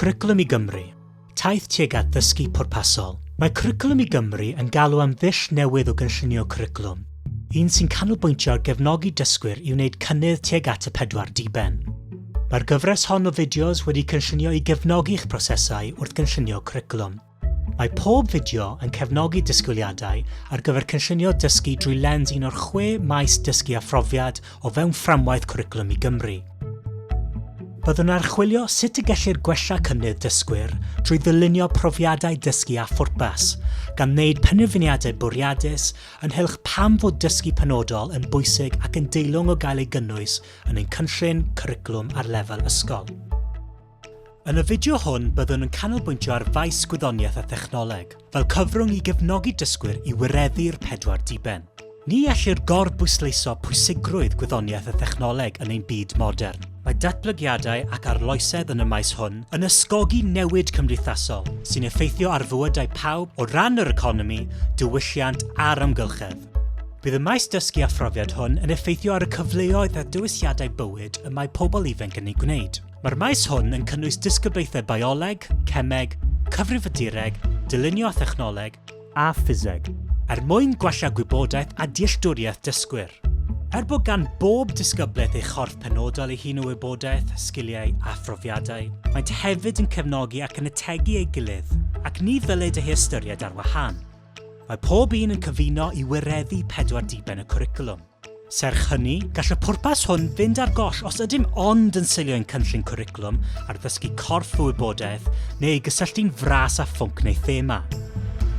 Cwricwlwm i Gymru, Taith tuag at ddysgu pwrpasol. Mae Cwricwlwm i Gymru yn galw am ddull newydd o gynllunio cwricwlwm, un sy'n canolbwyntio ar gefnogi dysgwyr i wneud cynnydd tuag at y pedwar diben. Mae'r gyfres hon o fideos wedi cynllunio i gefnogi eich prosesau wrth gynllunio cwricwlwm. Mae pob fideo yn cefnogi disgwyliadau ar gyfer cynllunio dysgu drwy lens un o'r chwe maes dysgu a phrofiad o fewn fframwaith Cwricwlwm i Gymru. Byddwn yn archwilio sut y gellir gwella cynnydd dysgwyr drwy ddylunio profiadau dysgu â phwrpas, gan wneud penderfyniadau bwriadus ynghylch pam fod dysgu penodol yn bwysig ac yn deilwng o gael ei gynnwys yn ein cynllun cwricwlwm ar lefel ysgol. Yn y fideo hwn byddwn yn canolbwyntio ar faes gwyddoniaeth a thechnoleg, fel cyfrwng i gefnogi dysgwyr i wireddu'r pedwar diben. Ni ellir gorbwysleiso pwysigrwydd gwyddoniaeth a thechnoleg yn ein byd modern. Mae datblygiadau ac arloesedd yn y maes hwn yn ysgogi newid cymdeithasol sy'n effeithio ar fywydau pawb o ran yr economi, diwylliant a'r amgylchedd. Bydd y maes dysgu a phrofiad hwn yn effeithio ar y cyfleoedd a dewisiadau bywyd y mae pobl ifanc yn eu gwneud. Mae'r maes hwn yn cynnwys disgyblaethau bioleg, cemeg, cyfrifiadureg, dylunio a thechnoleg, a ffiseg, er mwyn gwella gwybodaeth a dealltwriaeth dysgwyr. Er bod gan bob disgyblaeth ei chorff penodol ei hun o wybodaeth, sgiliau a phrofiadau, maent hefyd yn cefnogi ac yn ategu ei gilydd, ac ni ddylid eu hystyried ar wahân. Mae pob un yn cyfuno i wireddu pedwar diben y cwricwlwm. Serch hynny, gall y pwrpas hwn fynd ar goll os ydym ond yn seilio ein cynllun cwricwlwm ar ddysgu corff o wybodaeth neu ei gysylltu'n fras â phwnc neu thema.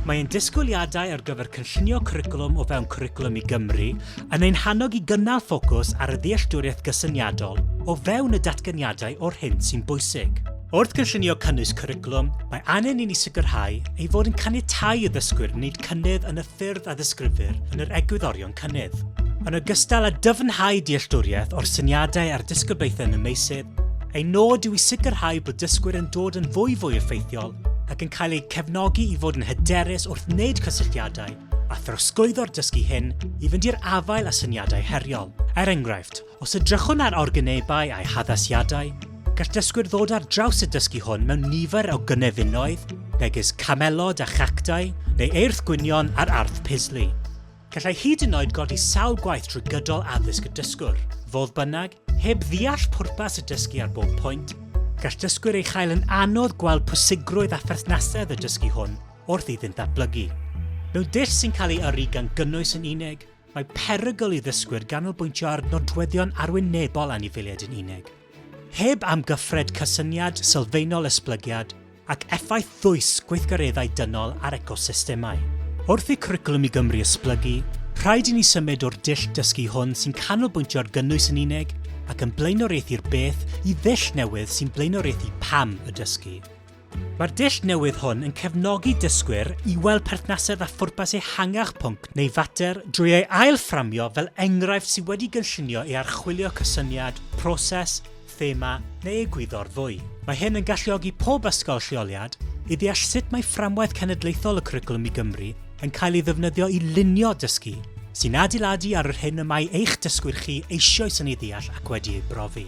Mae ein disgwyliadau ar gyfer cynllunio cwricwlwm o fewn Cwricwlwm i Gymru yn ein hannog i gynnal ffocws ar y ddealltwriaeth gysyniadol o fewn y datganiadau o'r hyn sy'n bwysig. Wrth gynllunio cynnwys cwricwlwm, mae angen i ni sicrhau ei fod yn caniatáu i ddysgwyr wneud cynnydd yn y ffyrdd a ddisgrifir yn yr egwyddorion cynnydd. Yn ogystal â dyfnhau dealltwriaeth o'r syniadau a'r disgyblaethau yn y meysydd, ein nod yw i sicrhau bod dysgwyr yn dod yn fwy fwy effeithiol ac yn cael eu cefnogi i fod yn hyderus wrth wneud cysylltiadau a throsglwyddo'r dysgu hyn i fynd i'r afael â syniadau heriol. Er enghraifft, os edrychwn ar organebau a'u haddasiadau, gall dysgwyr ddod ar draws y dysgu hwn mewn nifer o gynefinoedd, megis camelod a chactau, neu eirth gwynion a'r arth pysli. Gallai hyd yn oed godi sawl gwaith trwy gydol addysg y dysgwr. Fodd bynnag, heb ddeall pwrpas y dysgu ar bob pwynt, gall dysgwyr ei chael yn anodd gweld pwysigrwydd a pherthnasedd y dysgu hwn wrth iddynt ddatblygu. Mewn dull sy'n cael ei yrru gan gynnwys yn unig, mae perygl i ddysgwyr ganolbwyntio ar nodweddion arwynebol anifeiliaid yn unig. Heb amgyffred cysyniad sylfaenol esblygiad ac effaith ddwys gweithgareddau dynol ar ecosystemau. Wrth i Cwricwlwm i Gymru esblygu, rhaid i ni symud o'r dull dysgu hwn sy'n canolbwyntio ar gynnwys yn unig ac yn blaenoriaethu'r beth i ddull newydd sy'n blaenoriaethu pam y dysgu. Mae'r dull newydd hwn yn cefnogi dysgwyr i weld perthnasedd a phwrpas ehangach pwnc neu fater drwy ei ail-fframio fel enghraifft sydd wedi gynllunio i archwilio cysyniad, proses, thema neu egwyddor fwy. Mae hyn yn galluogi pob ysgol lleoliad i ddeall sut mae fframwaith cenedlaethol y Cwricwlwm i Gymru yn cael ei ddefnyddio i lunio dysgu sy'n adeiladu ar yr hyn y mae eich dysgwyr chi eisoes yn ei ddeall ac wedi ei brofi.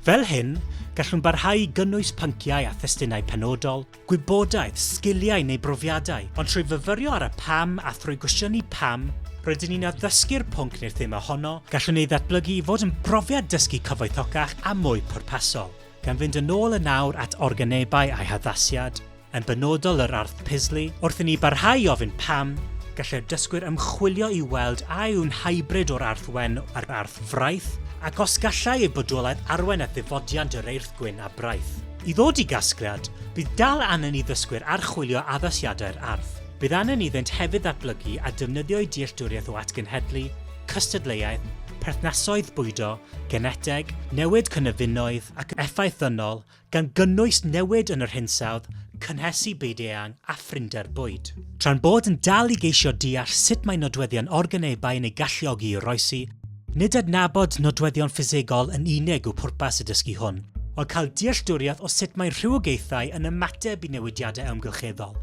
Fel hyn, gallwn barhau i gynnwys pynciau a thestunau penodol, gwybodaeth, sgiliau neu brofiadau, ond trwy fyfyrio ar y pam a thrwy gwestiynu pam rydyn ni'n addysgu'r pwnc neu'r thema honno, gallwn ei ddatblygu i fod yn brofiad dysgu cyfoethocach a mwy pwrpasol. Gan fynd yn ôl yn awr at organebau a'u haddasiad, yn benodol yr Arth Pisley, wrth i ni barhau i ofyn pam, gallai'r dysgwyr ymchwilio i weld a yw'n hybrid o'r Arth Wen a'r Arth Fraith, ac os gallai ei bodolaeth arwain at ddifodiant yr Eirth Gwyn a Braith. I ddod i gasgliad, bydd dal angen i ddysgwyr archwilio addasiadau'r Arth. Bydd angen iddynt hefyd ddatblygu a defnyddio'u dealltwriaeth o atgenhedlu, cystadleuaeth, perthnasoedd bwydo, geneteg, newid cynefinoedd ac effaith ddynol gan gynnwys newid yn yr hinsawdd, cynhesu byd eang a phrinder bwyd. Tra'n bod yn dal i geisio deall sut mae nodweddion organebau yn eu galluogi i oroesi, nid adnabod nodweddion ffisegol yn unig yw pwrpas y dysgu hwn, ond cael dealltwriaeth o sut mae rhywogaethau yn ymateb i newidiadau amgylcheddol.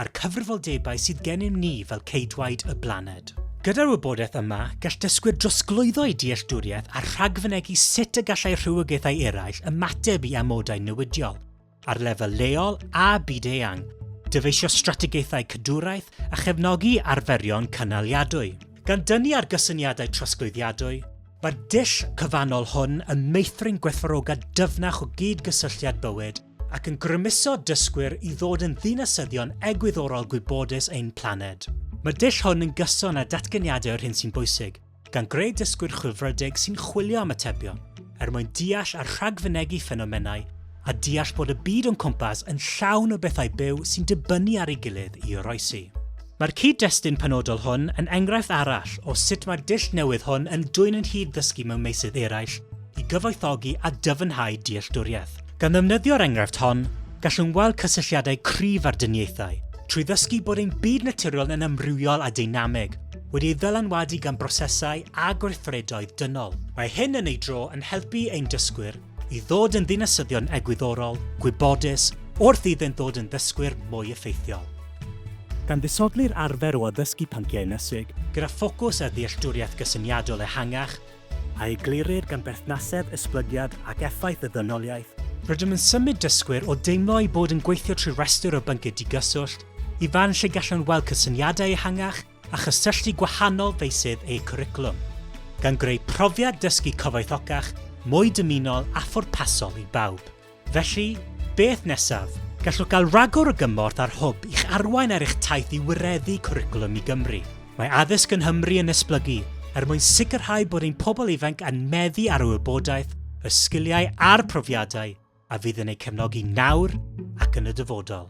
a'r cyfrifoldebau sydd gennym ni fel ceidwaid y blaned. Gyda'r wybodaeth yma, gall dysgwyr drosglwyddo'u dealltwriaeth a rhagfynegi sut y gallai rhywogaethau eraill ymateb i amodau newidiol, ar lefel leol a byd-eang, dyfeisio strategaethau cadwraeth a chefnogi arferion cynaliadwy. Gan dynnu ar gysyniadau trosglwyddiadwy, mae'r dull cyfannol hwn yn meithrin gwerthfawrogiad dyfnach o gyd-gysylltiad bywyd ac yn grymuso dysgwyr i ddod yn ddinasyddion egwyddorol gwybodus ein planed. Mae'r dull hwn yn gyson â datganiadau o'r hyn sy'n bwysig, gan greu dysgwyr chwilfrydig sy'n chwilio am atebion, er mwyn deall a rhagfynegi ffenomenau a deall bod y byd o'n cwmpas yn llawn o bethau byw sy'n dibynnu ar ei gilydd i oroesi. Mae'r cyd-destun penodol hwn yn enghraifft arall o sut mae'r dull newydd hwn yn dwyn yn hyd ddysgu mewn meysydd eraill i gyfoethogi a dyfnhau dealltwriaeth. Gan ddefnyddio'r enghraifft hon, gallwn weld cysylltiadau cryf â'r dyniaethau, trwy ddysgu bod ein byd naturiol yn amrywiol a deinamig, wedi ei ddylanwadu gan brosesau a gweithredoedd dynol. Mae hyn yn ei dro yn helpu ein dysgwyr i ddod yn ddinasyddion egwyddorol, gwybodus, wrth iddynt ddod yn ddysgwyr mwy effeithiol. Gan ddisodli'r arfer o addysgu pynciau ynysig, gyda ffocws ar ddealltwriaeth gysyniadol ehangach, a eglurir gan berthnasedd esblygiad ac effaith y ddynoliaeth, rydym yn symud dysgwyr o deimlo eu bod yn gweithio trwy restr o bynciau digyswllt i fan lle gallan nhw weld cysyniadau ehangach a chysylltu gwahanol feysydd eu cwricwlwm, gan greu profiad dysgu cyfoethocach, mwy dymunol a phwrpasol i bawb. Felly, beth nesaf? Gallwch gael rhagor o gymorth ar Hwb i'ch arwain ar eich taith i wireddu Cwricwlwm i Gymru. Mae Addysg yng Nghymru yn esblygu er mwyn sicrhau bod ein pobl ifanc yn meddu ar y wybodaeth, y sgiliau a'r profiadau a fydd yn eu cefnogi nawr ac yn y dyfodol.